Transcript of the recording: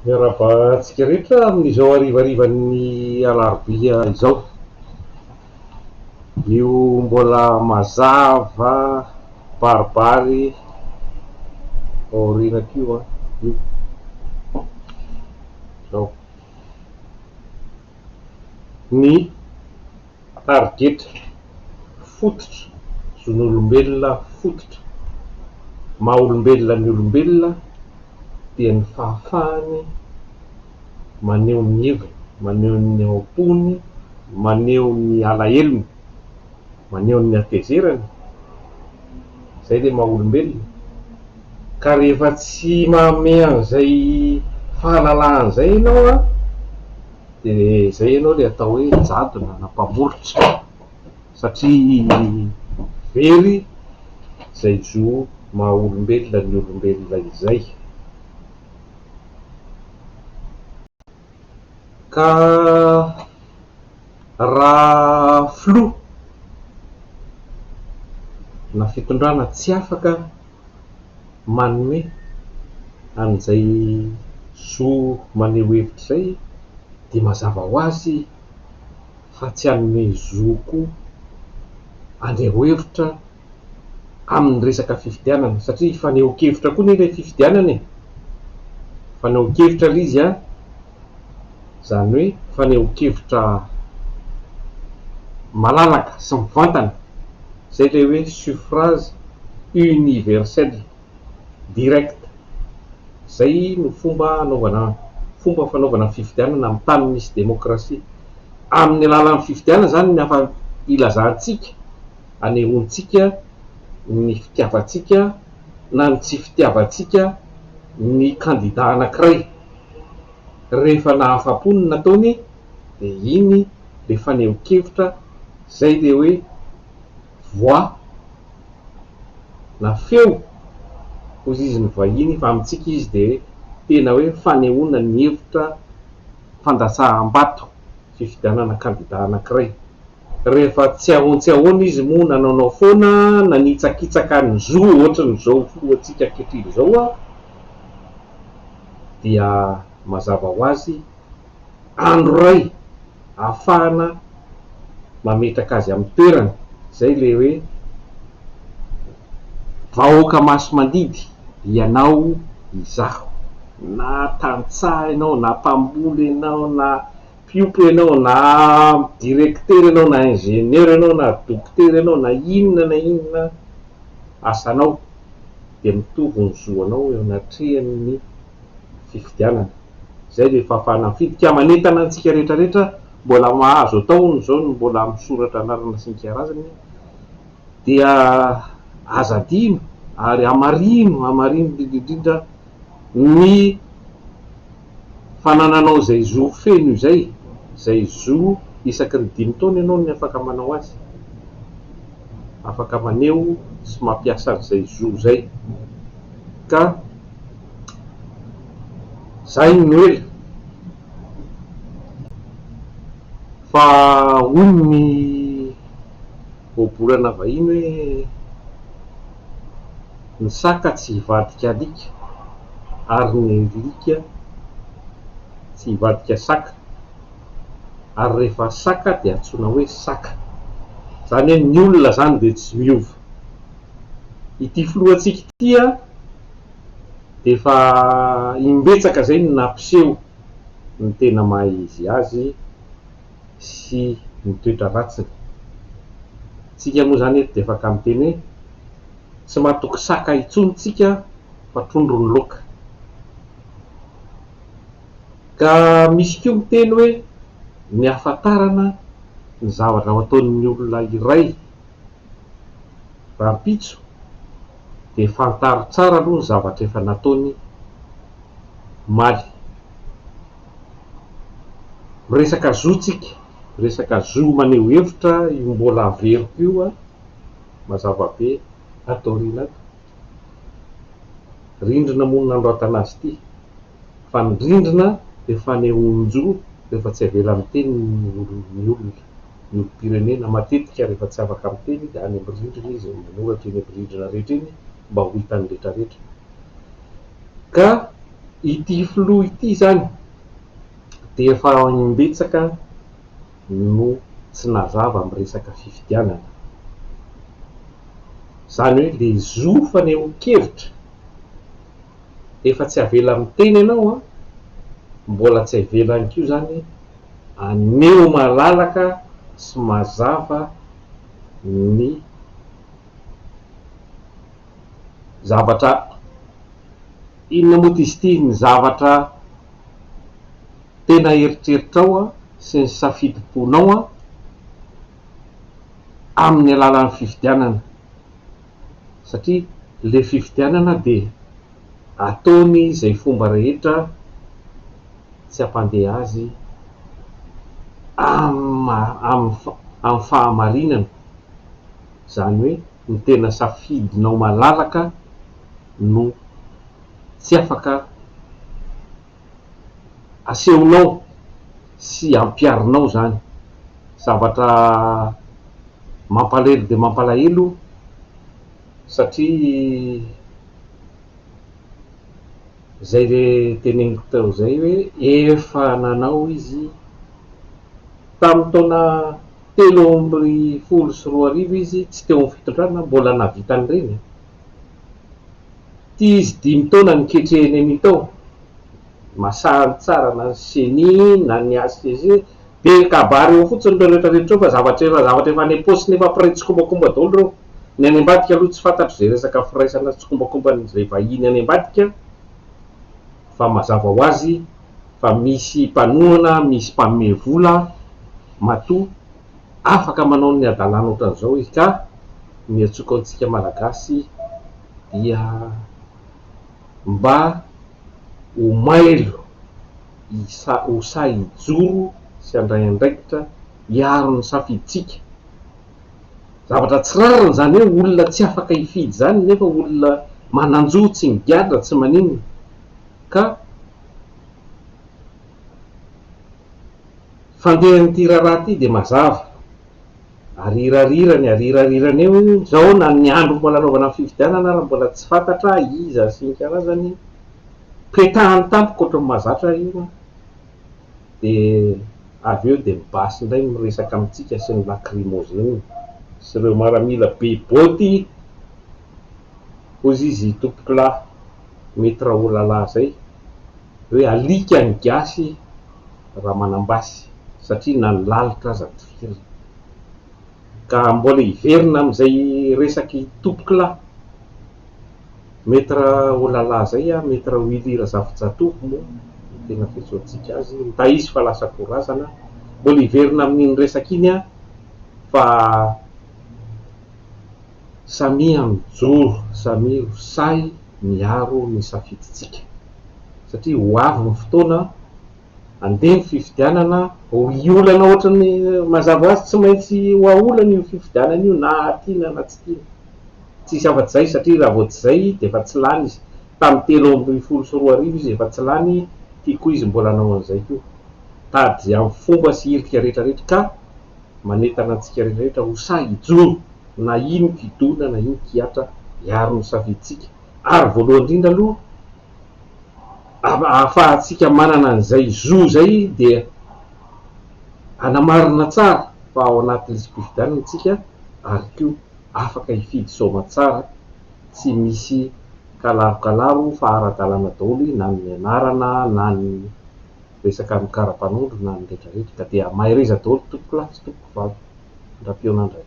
Miarahaba antsika rehetra amin'izao harivarivan'ny alarobia izao. Io mbola mazava baribary aorianako io an, io izao ny tari-getra fototra, zon'olombelona fototra, maha olombelona ny olombelona dia ny fahafahany maneho ny heviny, maneho ny ao-pony, maneho ny alahelony, maneho ny hatezerany, izay ilay maha olombelona, ka rehefa tsy manome an'izay fahalalahana izay ianao an, Dia izay ianao ilay atao hoe jadona na mpamoritra satria very izay zo maha olombelona ny olombelona izay. Ka raha filoha na fitondrana tsy afaka. manome an'izay zo maneho hevitra izay dia mazava ho azy fa tsy hanome zo koa haneho hevitra amin'ny resaka fifidianana satria fanehoan-kevitra koa anie ilay fifidianana e, fanehoan-kevitra ilay izy an! izany hoe fanehoan-kevitra malalaka sy mivantana, izay ilay hoe suffrage universel direct, izay no fomba anaovana fomba fanaovana fifidianana amin'ny tany misy demokrasia. Amin'ny alalan'ny fifidianana izany no afa-ilazantsika, anehoantsika ny fitiavantsika na ny tsy fitiavantsika ny kandida anankiray. Rehefa nahafa-po ny nataony dia iny le fanehonkevitra zay le hoe voix na feo hozizin'ny vahiny fa amintsika izy dia tena hoe fanehoana ny hevitra fandatsaham-bato fifidianana kandida anankiray. Rehefa tsiahon tsiahona izy moa nanaonao foana nanitsakitsaka ny zo ohatrin'izao filohantsika ankehitriny izao a! dia mazava ho azy andro iray ahafahana mametraka azy amin'ny toerany, izay ilay hoe vahoaka masi-mandidy ianao izaho, na tantsaha ianao, na mpamboly ianao, na mpiompy ianao, na directeur ianao, na ingénieur ianao, na dokotera ianao, na inona na inona asanao. dia mitovy ny zo anao eo anatrehan'ny fifidianana. Izay ilay fahafahana mifidy ka manentana antsika rehetra rehetra mbola mahazo atao hono izao ny mbola misoratra anarana sy ny kiarazany dia aza adino ary hamarino hamarino indrindra indrindra ny Fanananao izay zo feno izay, izay zo isaky ny dimy taona ianao ny afaka manao azy, afaka maneho sy mampiasa an'izay zo izay, ka zay no ela, fa hoy ny. Ohabolana vahiny hoe ny saka tsy hivadika alika ary ny alika tsy hivadika saka ary rehefa saka dia antsoina hoe saka. Izany hoe ny olona izany dia tsy miova. Ity filohantsika ity an, dia efa imbetsaka izay no nampiseho ny tena maha izy azy. sy ny toetra ratsiny. Tsika moa izany eto dia afaka miteny hoe, tsy matoky saka intsony tsika fa trondro ny loka. Ka misy koa miteny hoe, ny hahafantarana ny zavatra ho ataon'ny olona iray rahampitso dia fantaro tsara aloha ny zavatra efa nataony omaly. resaka zo tsika, resaka zo maneho hevitra io mbola averiko io an, mazava be ato aoriana ato, rindrina moa no nanoratana azy ity, fa ny rindrina dia fanehoan-jo rehefa tsy avela miteny ny olona, ny olom-pirenena matetika rehefa tsy afaka miteny dia any amin'ny rindrina izy no manoratra eny amin'ny rindrina rehetra eny mba ho hitan'ny rehetra rehetra. Ka ity filoha ity izany dia efa im-betsaka no tsy nazava amin'ny resaka fifidianana. Izany hoe ilay zo fanehoan-kevitra efa tsy avela miteny ianao an, mbola tsy avelany koa izany aneho malalaka sy mazava ny. zavatra inona moa ty izy ity? Ny zavatra tena eritreritrao sy ny safidim-ponao amin'ny alalan'ny fifidianana, satria ilay fifidianana dia ataony izay fomba rehetra tsy hampandeha azy amin'ny fahamarinana, izany hoe. ny tena safidinao malalaka no tsy afaka asehonao sy ampiharinao zany. Zavatra mampalahelo dia mampalahelo satria zay le teneniko teo zay hoe efa nanao izy tamin'ny taona. Telo amby folo sy roa arivo izy tsy teo amin'ny fitondrana mbola nahavita an'ireny an! Ity izy dimy taona niketrehiny an'ito ao, masahany tsara na ny ceni na ny HCG dia kabary eo fotsiny ireo rehetra rehetra ireo fa zavatra efa zavatra efa any am-paosiny efa près tsikombakomba daholo ireo, ny any ambadika aloha tsy fantatro izay resaka firaisana sy tsikombakomban'izay vahiny any ambadika fa mazava ho azy fa misy mpanohana, misy mpanome vola, matoa afaka manao ny hadalana ohatran'izao izy ka ny antsoiko antsika Malagasy dia mba ho mailo ho sahy hijoro sy handray andraikitra hiaro ny safidintsika, zavatra tsy rariny izany hoe olona tsy afaka hifidy izany nefa olona manan-jo tsy migadra tsy maninona. ka fandehan'ity raharaha ity dia mazava, arirarirany, arirarirany eo izao na ny andro mbola anaovana ny fifidianana ary mbola tsy fantatra iza sy ny karazany, petahany tampoka ohatran'ny mahazatra io an, dia avy eo dia ny basy indray no miresaka amintsika sy ny lacrymogène sy ireo maramila be bôty, hoy izy, Tompokolahy. mety raholala zay hoe alika ny gasy raha manambasy satria na ny lalitra aza tifirina ka mbola hiverina amizay resaky topokla mety raholala zay a mety rawilly razafijatovo moa no tena fiantsoantsika azy nda izy fa lasa ko razana mbola hiverina amin'iny resaka iny a fa Samia mijoro, samia ho sahy miaro ny safidintsika satria ho avy ny fotoana handeha ny fifidianana, hiolana ohatran'ny mazava ho azy tsy maintsy haolana io fifidianana io na tiana na tsy tiana. Tsy hisy afa-tsy izay satria raha vao tsy izay dia efa tsy lany izy. Tamin'ny telo ambin'ny folo sy roa arivo izy efa tsy lany, ity koa izy mbola hanao an'izay koa. Tady amin'ny fomba sy irika rehetra rehetra ka manentana antsika rehetra ho sahy hijoro na ino kidona na ino kihatra hiaro ny safidintsika ary voalohany indrindra aloha ahafahantsika manana an'izay zo izay dia hanamarina tsara fa ao anaty lisi-pifidianana isika ary koa afaka hifidy soamatsara tsy misy kalarokalaro fa ara-dalàna daholo na ny anarana na ny resaka ny karapanondro na ny rehetra rehetra ka dia mahereza daholo tompokolahy sy tompokovavy, Ndra Pionandray.